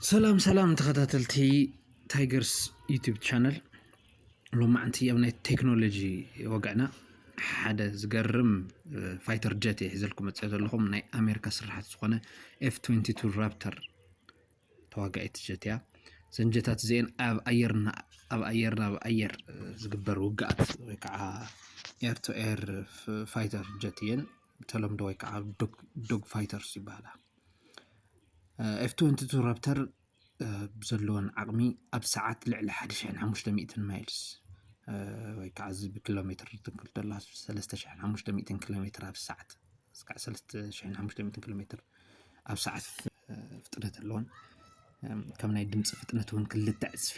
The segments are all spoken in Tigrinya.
ሰላም ሰላም ተኸታተልቲ ታይገርስ ዩቲብ ቻነል ሎማዕንቲ ኣብ ናይ ቴክኖሎጂ ወግዕና ሓደ ዝገርም ፋይተር ጀት እየ ሒዘልኩም መፅኦ ዘለኹም ናይ ኣሜሪካ ስራሓት ዝኾነ ኤፍ 22 ራፕተር ተዋጋኢት ጀት እያ። እዘን ጀታት እዚኤን ኣብ ኣየር ኣብ ኣየር ናብ ኣየር ዝግበር ውግኣት ወይ ከዓ ኤር ቱ ኤር ፋይተር ጀት እየን ብተለምዶ ወይ ከዓ ዶግ ፋይተርስ ይበሃላ። ኤፍ ትወንቲ ቱ ራፕተር ብዘለወን ዓቕሚ ኣብ ሰዓት ልዕሊ ሓደ ሽሕን ሓሙሽተ ሚእትን ማይልስ ወይ ከዓ እዚ ብኪሎ ሜትር ትንክል ተላ ሰለስተ ሽሕን ሓሙሽተ ሚእትን ኪሎ ሜትር ኣብ ሰዓት እስካዕ ሰለስተ ሽሕን ሓሙሽተ ሚእትን ኪሎ ሜትር ኣብ ሰዓት ፍጥነት ኣለዎን ከም ናይ ድምፂ ፍጥነት እውን ክልተ ዕፅፊ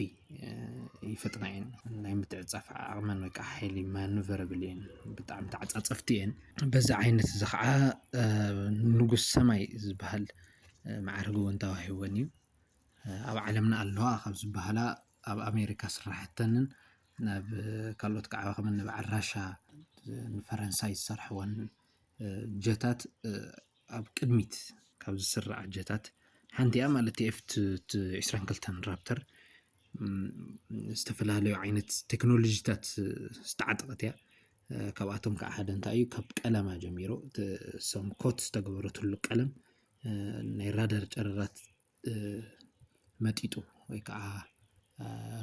ይፍጥና እየን ናይ ምትዕፃፍ ዓቕመን ወይ ከዓ ሓይሊ ማኑቨረብል እየን ብጣዕሚ ተዓፃፀፍቲ እየን በዚ ዓይነት እዚ ከዓ ንጉስ ሰማይ ዝበሃል መዓርግ እውን ተዋሂበን እዩ ኣብ ዓለምና ኣለዋ ካብ ዝበሃላ ኣብ ኣሜሪካ ስራሕተንን ናብ ካልኦት ከዓ ከም እኒ በዓል ራሻ ንፈረንሳይ ዝሰርሕወን ጀታት ኣብ ቅድሚት ካብ ዝስራዕ ኣጀታት ሓንቲያ ማለት ኤፍ ዕስራን ክልተን ራፕተር ዝተፈላለዩ ዓይነት ቴክኖሎጂታት ዝተዓጠቐት እያ። ካብኣቶም ከዓ ሓደ እንታይ እዩ ካብ ቀለማ ጀሚሮ ሰም ኮት ዝተገበረትሉ ቀለም ናይ ራዳር ጨረራት መጢጡ ወይ ከዓ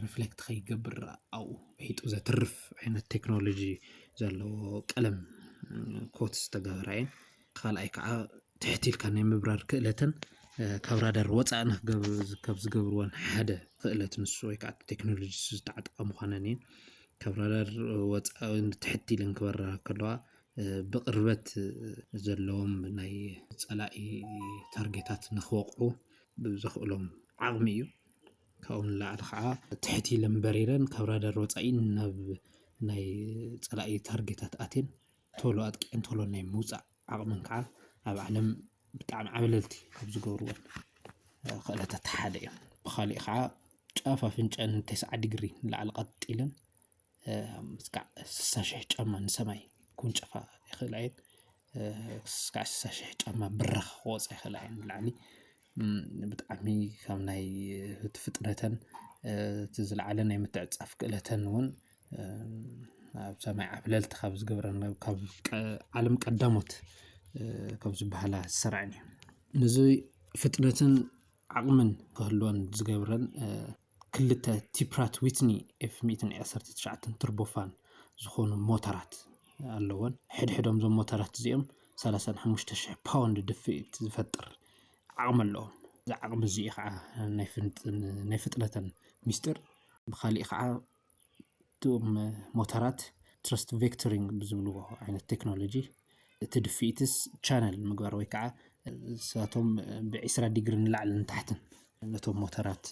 ርፍሌክት ከይገብር ኣብኡ ምሒጡ ዘትርፍ ዓይነት ቴክኖሎጂ ዘለዎ ቀለም ኮት ዝተገብረ እየን። ካልኣይ ከዓ ትሕት ኢልካ ናይ ምብራር ክእለተን ካብ ራዳር ወፃኢ ካብ ዝገብርወን ሓደ ክእለት ንሱ ወይ ከዓ ቴክኖሎጂ ንሱ ዝተዓጠቓ ምዃነን እየን። ካብ ራዳር ወፃኢ ትሕት ኢለን ክበራ ከለዋ ብቕርበት ዘለዎም ናይ ጸላኢ ታርጌታት ንክወቕዑ ብዘኽእሎም ዓቕሚ እዩ። ካብኡ ንላዕሊ ከዓ ትሕት ኢለን በሪረን ካብ ራዳር ወፃኢ ናብ ናይ ፀላኢ ታርጌታት ኣትየን ቶሎ ኣጥቂዐን ቶሎ ናይ ምውፃእ ዓቕመን ከዓ ኣብ ዓለም ብጣዕሚ ዓብለልቲ ካብ ዝገብርወን ክእለታት ሓደ እዩ። ብኻሊእ ከዓ ጫፍ ኣፍንጨኣን ቴስዓ ዲግሪ ንላዕሊ ቀጥ ኢለን እስካዕ ስሳ ሽሕ ጫማ ንሰማይ ክውንጨፋ ይኽእላ እየን። እስካዕ ስሳ ሽሕ ጫማ ብራኽ ክወጻ ይኽእላ እየን ንላዕሊ። ብጣዕሚ ካብ ናይ እቲ ፍጥነተን እቲ ዝለዓለ ናይ ምትዕጽጻፍ ክእለተን እውን ኣብ ሰማይ ዓብለልቲ ካብ ዝገብረን ካብ ዓለም ቀዳሞት ካብ ዝበሃላ ዝሰርዐን እየን። ነዚ ፍጥነትን ዓቕምን ክህልወን ዝገብረን ክልተ ቲ ፕራት ዊትኒ ኤፍ ሚእትን ዓሰርተ ትሽዓተን ቱርቦፋን ዝኾኑ ሞተራት ኣለወን። ሕድሕዶም እዞም ሞተራት እዚኦም ሰላሳን ሓሙሽተ ሽሕ ፓውንድ ድፍኢት ዝፈጥር ዓቕሚ ኣለዎም። እዚ ዓቕሚ እዚ'ዩ ኸኣ ናይ ፍጥነተን ምስጢር። ብኻሊእ ኸኣ እቶም ሞተራት ትረስት ቬክተሪንግ ብዝብልዎ ዓይነት ቴክኖሎጂ እቲ ድፍኢትስ ቻነል ምግባር ወይ ከዓ ንሳቶም ብዒስራ ዲግሪ ንላዕልን ንታሕትን ነቶም ሞተራት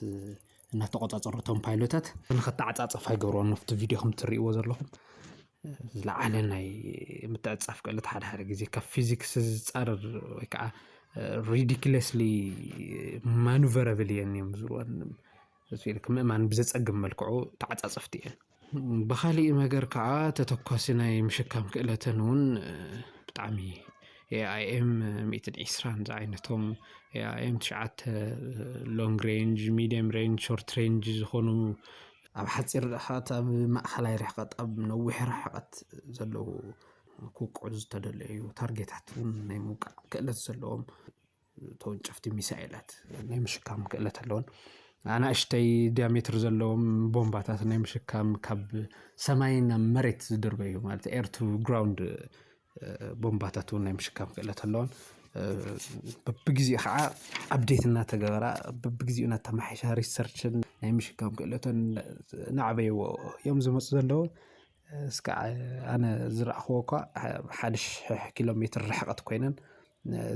እናተቆፃፀሩ እቶም ፓይሎታት ንኸተዓፃፀፋ ይገብርዎም ኣብቲ ቪድዮ ከም እትሪእዎ ዘለኹም ዝለዓለ ናይ ምትዕፃፍ ክእለት ሓደ ሓደ ግዜ ካብ ፊዚክስ ዝፃረር ወይ ከዓ ሪዲክለስሊ ማኑቨረብል እየን እዮም ዝብልወን ህዝቢ ምእማን ብዘፀግም መልክዑ ተዓፃፀፍቲ እየን። ብኻሊእ መገር ከዓ ተተኳሲ ናይ ምሽካም ክእለተን እውን ብጣዕሚ ኤኣይኤም ሚእትን ዒስራን ዝዓይነቶም ኤኣይኤም ትሽዓተ ሎንግ ሬንጅ ሚድየም ሬንጅ ሾርት ሬንጅ ዝኾኑ ኣብ ሓፂር ርሕቐት ኣብ ማእኸላይ ርሕቐት ኣብ ነዊሕ ርሕቐት ዘለዉ ክውቅዑ ዝተደለዩ ታርጌታት እውን ናይ ምውቃዕ ክእለት ዘለዎም ተወንጨፍቲ ሚሳኤላት ናይ ምሽካም ክእለት ኣለወን። ኣናእሽተይ ዲያሜትር ዘለዎም ቦምባታት ናይ ምሽካም ካብ ሰማይ ናብ መሬት ዝድርበዩ ማለት ኤር ቱ ግራውንድ ቦምባታት እውን ናይ ምሽካም ክእለት ኣለወን። በብግዜኡ ኸዓ ኣብዴት እናተገበራ በብግዜኡ እናተመሓየሻ ሪሰርችን ናይ ምሽካም ክእለተን እናዕበይዎ እዮም ዝመፅኡ ዘለዉ። እስካዕ ኣነ ዝረኣኹዎ እኳ ሓደ ሽሕ ኪሎ ሜትር ርሕቐት ኮይነን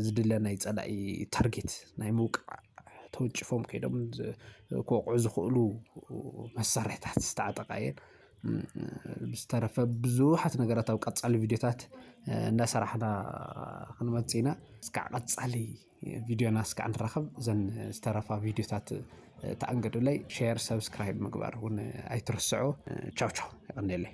ዝድለ ናይ ጸላኢ ታርጌት ናይ ምውቃዕ ተወንጭፎም ከይዶም ክወቕዑ ዝኽእሉ መሳርሕታት ዝተዓጠቓ እየን። ብዝተረፈ ብዙሓት ነገራት ኣብ ቀጻሊ ቪድዮታት እንዳሰራሕና ክንመጽእ ኢና። እስካዕ ቀጻሊ ቪድዮና እስካዕ ንራኸብ እዘን ዝተረፋ ቪድዮታት ተኣንገዱለይ ሼር ሰብስክራይብ ምግባር እውን ኣይትርስዑ። ቻው ቻው የቐንየለይ።